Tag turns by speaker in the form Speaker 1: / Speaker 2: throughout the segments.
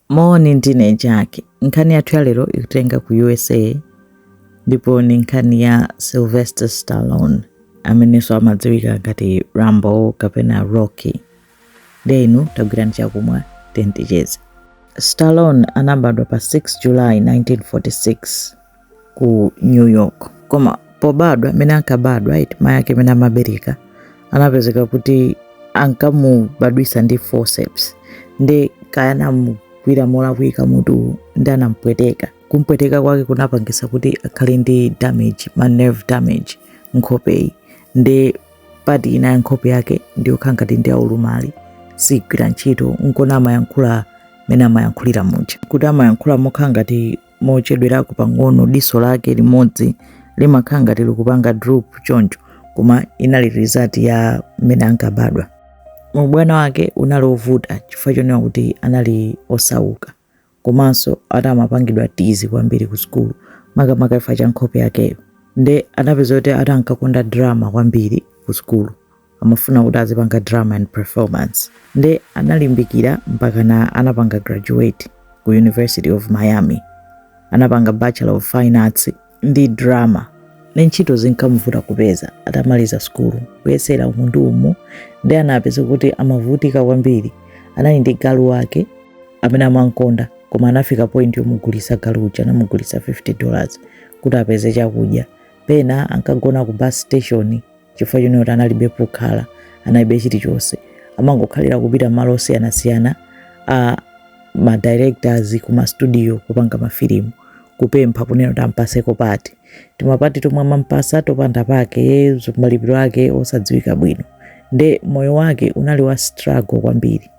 Speaker 1: Moni ndine Jack. Nkhani yathu ya lero ikutitenga ku USA ndipo ni nkhani ya Sylvester Stallone amenenso amadziwika ngati Rambo kapena Rocky. Ndiye inu tagwirani chakumwa tenticheze. Stallone anabadwa pa 6 July 1946 ku new york koma pobadwa mene ankabadwa eti mayi ake amene amabereka anapezeka kuti ankamubadwisa ndi forceps nde kaya anamugwira molakwika mutuwu nde anampweteka kumpweteka kwake kunapangisa kuti akhale ndi damage ma nerve damage nkhopeyi nde part ina ya nkhope yake ndiyokhala ngati ndi yaulumali sigwira ntchito nkona amayankhula mene amayankhulira muja kuti amayankhula mokhala ngati mochedwerako pang'ono diso lake limodzi limakhala ngati likupanga droop choncho koma inali result ya mmene ankabadwa ubwana wake unali ovuta chifukwa chonena kuti anali osauka komanso ati amapangidwa tease kwambiri ku sukulu makamaka chifukwa cha nkhope yakeyo nde anapeza kuti ati ankakonda drama kwambiri ku sukulu amafuna kuti azipanga drama and performance nde analimbikira mpakana anapanga graduate ku university of miami anapanga bachelor of fine arts ndi drama nde ntchito zinkamuvuta kupeza atamaliza sukulu kuyesera umu ndi umu nde anapeza kuti amavutika kwambiri anali ndi galu wake amene amankonda koma anafika point yomugulisa galu uja anamugulisa 50 dollars kuti apeze chakudya pena ankagona ku bus station chifukwa chonena kuti analibe pokhala analibe chilichonse amangokhalira kupita m'malo osiyanasiyana a ma directors ku ma studio kopanga mafilimu kupempha kunena kuti ampaseko part timapati tomwe amampasa topanda pake malipiro ake osadziwika bwino nde moyo wake unali wa struggle kwambiri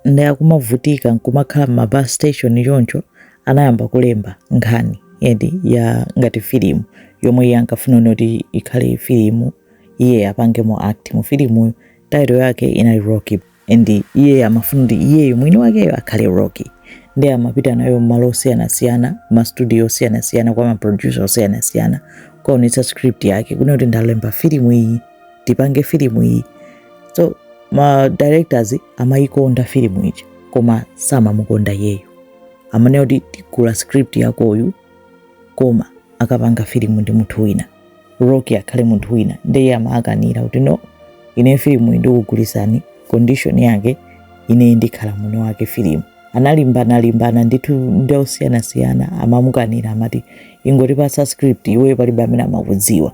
Speaker 1: nde akumavutika nkumakhala m'ma bus station choncho anayamba kulemba nkhani eti ya ngati filimu yomwe iye ankafuna kunena kuti ikhale filimu iye apangemo act mu filimuyo title yake inali rocky and iye amafuna kuti iyeyo mwini wakeyo akhale rocky nde amapita nayo mmalo osiyanasiyana mastudio osiyanasiyana kwa maproducer osiyanasiyana kukaonetsa script yake kunena kuti ndalemba filimu iyi tipange filimu iyi so ma directors amayikonda filimu ija koma samamukonda iyeyo amanena kuti tigula script yakoyi koma akapanga filimu ndi munthu wina rocky akhale munthu wina ndeye amakanira kuti no ine filimu ndikugulisani condition yake ine ndikhala mwini wake filimu analimbanalimbana ndithu ndi osiyanasiyana amamukanira amati ingotipasa script iweyo palibe amene amakudziwa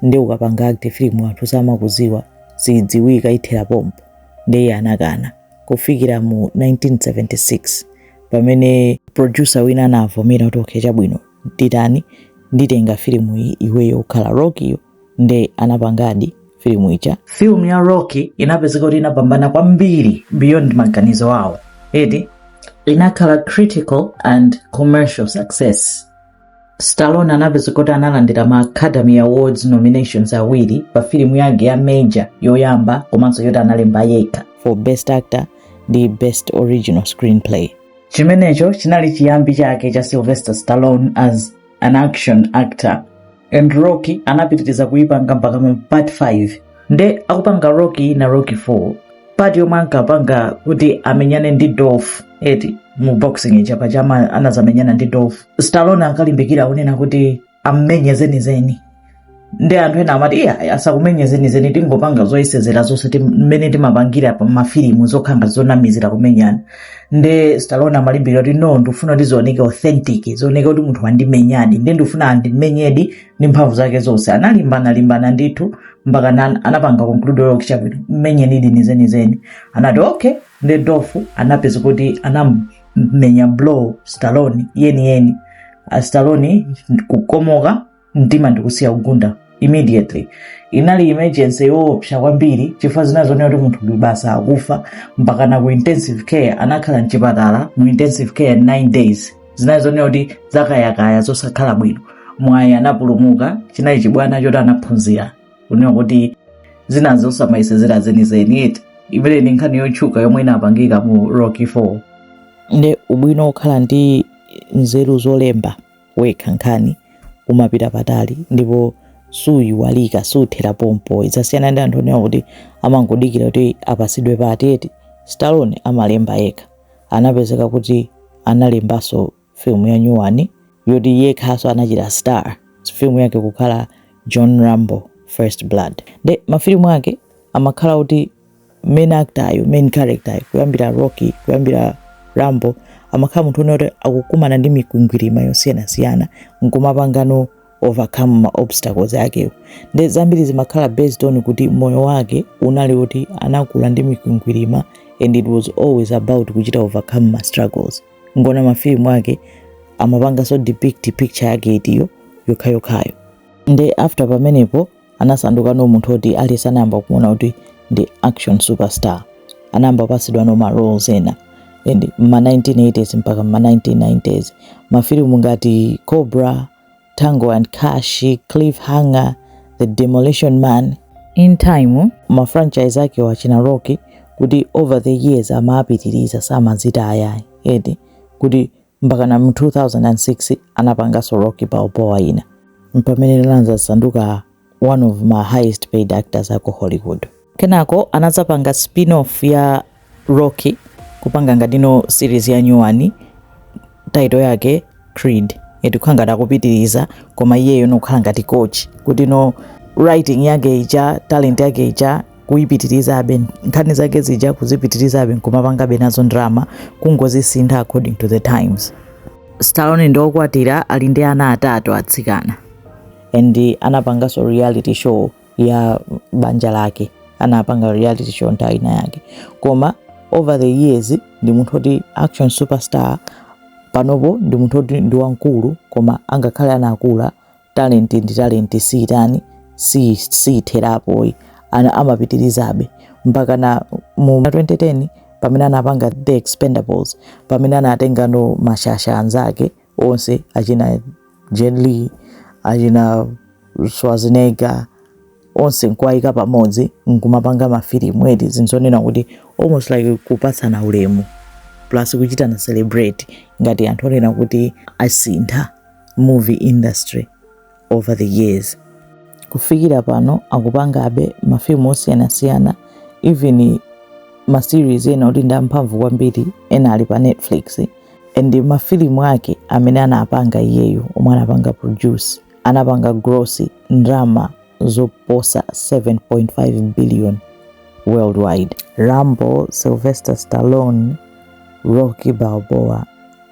Speaker 1: nde ukapanga act filimu anthu samakudziwa sidziwika ithera pompo ndeye anakana kufikira mu 1976 pamene producer wina anavomera kuti okay chabwino titani nditenga filimu iyi iweyo ukhala Rockyyo nde anapangadi filimu ija filimu ya Rocky inapezeka kuti inapambana kwambiri beyond maganizo awo eti inakhala critical and commercial success Stallone anapezeka kuti analandira ma Academy Awards nominations awiri pa filimu yake ya major yoyamba komanso yoti analemba yekha for Best Actor ndi Best Original Screenplay. Chimenecho chinali chiyambi chake cha Sylvester Stallone as an action actor and Rocky anapitiriza kuipanga mpaka mu part 5 nde akupanga Rocky ina Rocky 4 part yomwe ankapanga kuti amenyane ndi Dolph eti mu boxing ija paja ama- anazamenyana ndi Dolph Stallone ankalimbikira kunena kuti ammenye zenizeni nde anthu ena amati iya asakumenye zenizeni tingopanga zoyesezera zonse tim- mmene timapangira pa mafilimu zokhangati zonamizira kumenyana nde Stallone amalimbikira kuti no ndikufuna kuti zioneke authentic zioneke kuti munthu wandimenyadi nde ndikufuna andimenyedi ndi mphamvu zake zonse analimbana limbana ndithu mpaka na- anapanga conclude okay chabwino mmenyenidi ndi zenizeni anati okay nde Dolph anapezeka kuti anamenya blow Stallone yeniyeni Ah, Stallone kukomoka mtima ndikusiya kugunda immediately inali emergency yoopsa kwambiri chifukwa zinali zonena kuti munthu uyu basi akufa mpakana ku intensive care anakhala mchipatala mu intensive care 9 days zinali zonena kuti zakayakaya zosakhala bwino mwayi anapulumuka chinali chibwana choti anaphunzira kunena kuti zina zosamayesezera zenizeni eti imene ndi nkhani yotchuka yomwe inapangika mu Rocky 4 nde ubwino wokhala ndi nzeru zolemba wekha nkhani umapita patali ndipo suyiwalika suthera pompo zimasiyana ndi anthu onena kuti amangodikira kuti apasidwe part eti Stallone amalemba yekha anapezeka kuti analembanso film ya nyuwani yoti iyeyonso anachita star film yake kukhala john rambo first blood nde mafilimu ake amakhala kuti main actoryo main characteryo kuyambira rocky kuyambira rambo amakhala munthu onena oti akukumana ndi mikwingwirima yosiyanasiyana nkumapangano overcome ma obstacles akewo nde zambiri zimakhala based on kuti moyo wake unali kuti anakula ndi mikwingwirima and it was always about kuchita overcome ma struggles mukaona mafilimu ake amapanganso depict picture yake itiyo yokhayokhayo nde after pamenepo anasandukano munthu oti aliyense anayamba kuona kuti ndi action superstar anayamba kupatsidwano ma roles ena m'ma 1980s mpaka ma 1990s mafilimu ngati cobra Tango and Cash, Cliffhanger, The Demolition Man, in time, ma franchise ake achina Rocky kuti over the years amapitiriza samazita ayayi eti kuti mpakana mu 2006 anapanganso Rocky Balboa ina mpamene anadzasanduka one of ma highest paid actors aku hollywood kenako anadzapanga spinoff ya rocky kupanga ngati no series ya nyuwani title yake creed eti kukhala ngati akupitiriza koma iyeyo nokukhala ngati coach kuti no writing yake ija talent yake ija kuipitirizabe nkhani zake zija kuzipitirizabe nkumapangabe nazo drama kungozisintha according to the times stallone ndiokwatira ali ndi ana atatu atsikana and anapanganso reality show ya banja lake anapanga reality show nthawi ina yake koma over the years ndi munthu oti action superstar panopo ndi munthu oti ndi wamkulu koma angakhale anakula talent ndi talent siitha ayi si- siitherapo ayi ana amapitirizabe mpaka na mu 2010 pamene anapanga the expendables pamene anatengano mashasha anzake onse achina Jet Li, achina Schwarzenegger onse nkuwayika pamodzi nkumapanga mafilimu eti zinthu zonena kuti almost like kupatsana ulemu plus kuchitana celebrate ngati anthu onena kuti asintha movie industry over the years kufikira pano akupangabe mafilimu osiyanasiyana even maseries ena oti ndi amphamvu kwambiri ena ali pa netflix and mafilimu ake amene anapanga iyeyo omwe anapanga produce anapanga gross ndalama zoposa 7.5 billion worldwide rambo sylvester stallone rocky balboa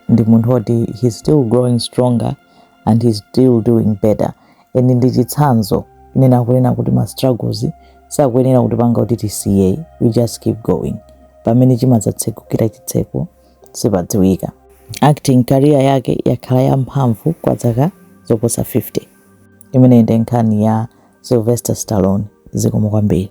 Speaker 1: ndi munthu woti he's still growing stronger and he's still doing better and ndi chitsanzo chonena kunena kuti ma struggles sakuyenera kutipanga kuti tisiye we just keep going pamene chimadzatsegukira chitseko sipadziwika. Acting career yake yakhala ya mphamvu kwa zaka zoposa 50. Imeneyi ndi nkhani ya Sylvester Stallone. Zikomo kwambiri.